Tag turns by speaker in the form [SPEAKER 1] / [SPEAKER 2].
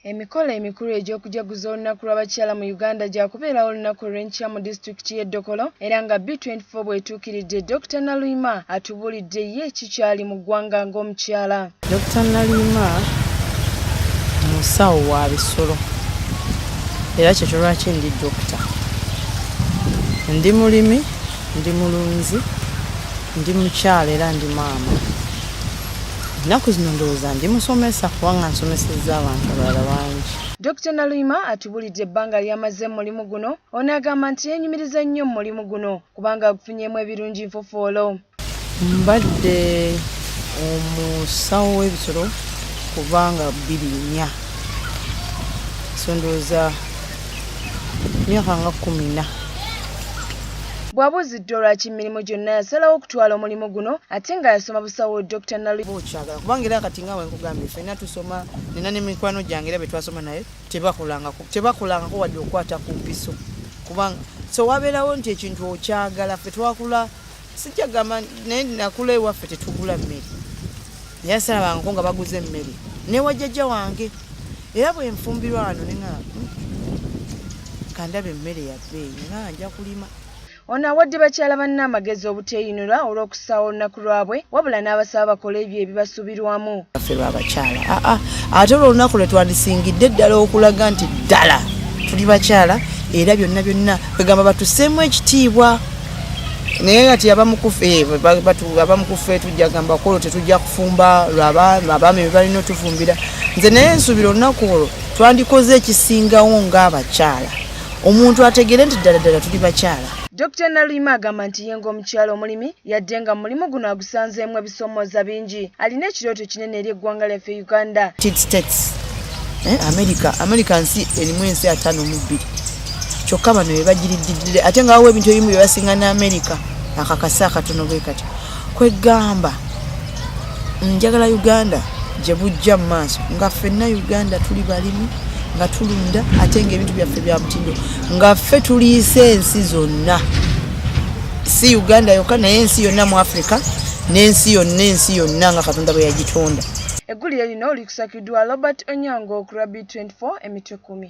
[SPEAKER 1] Emikolo emikulu egy'okujaguza olunaku lw'abakyala mu Uganda gyakubeerawo olunaku olw'enkya mu disitulikiti y'e Dokolo era nga B24 bw'etuukiridde Dokita Naluyima Tubulidde ye ki kyali mu ggwanga ng'omukyala. Dokita Naliima
[SPEAKER 2] musawo wa bisolo era kyekyo lwaki ndi dokita. Ndi mulimi, ndi mulunzi, ndi mukyala era ndi maama. Ennaku zino ndowooza ndi musomesa kubanga nsomesezza abantu abalala bangi. Dokita Naluyima
[SPEAKER 1] atubulidde ebbanga ly'amaze mu mulimu guno. Ono agamba nti yeenyumiriza nnyo mu mulimu guno kubanga agufunyeemu ebirungi nfofoolo mbadde
[SPEAKER 2] omusawo w'ebisolo kubanga bbiri nnya sondooza myaka nga kumi na
[SPEAKER 1] bwabuuziddwa olwaki emirimu gyonna yasalawo okutwala omulimu guno ate nga yasoma busawo dr nalikyagala kubanga era kati
[SPEAKER 2] nga wenkugambye fenna tusoma nina ne mikwano gyange era betwasoma naye tebakolangako tebakolangako wadde okukwata ku mpiso kubanga so wabeerawo nti ekintu okyagala fe twakula sijja gamba naye nakula ewaffe tetugula mmere naye asalabangako nga baguza emmere newajjajja wange era bwenfumbirwa wano nena hmm, kandaba emmere yabbeeyi nga nja kulima Ono awadde
[SPEAKER 1] bakyala banne amagezi obuteeyinula olw'okusaawa olunaku lwabwe wabula n'abasaba bakole ebyo ebibasuubirwamu. Ffe lw'abakyala
[SPEAKER 2] aa ah, ah. ate olwo olunaku lwe twandisingidde ddala okulaga nti ddala tuli bakyala era byonna byonna kwegamba batuseemu ekitiibwa naye kati abamukufe tujja gamba kwolo tetujja kufumba lwabaami bebalina otufumbira nze naye nsuubira olunaku olwo twandikoze ekisingawo ng'abakyala omuntu ategere nti ddala ddala tuli bakyala Dr. Naluyima
[SPEAKER 1] agamba nti ye ng'omukyala omulimi yadde nga mulimu guno agusanzeemu ebisoomooza bingi alina ekirooto kinene eri eggwanga lyaffe Uganda States
[SPEAKER 2] eh, America America nsi erimu ensi ataano mu bbiri kyokka bano bebagiriddidire ate nga wawo ebintu ebimu byebasinga ne America akakasa akatono bwe kati kweggamba njagala uganda gye bujja mu maaso nga ffenna uganda tuli balimi nga tulunda ate nga ebintu byaffe bya mutindo nga ffe tuliisa ensi zonna si uganda yokka naye ensi yonna mu africa n'ensi yonna ensi yonna nga katonda bwe yagitonda
[SPEAKER 1] eggulire lino likusakiddwa robert onyango ku rabi 24 emitwe kumi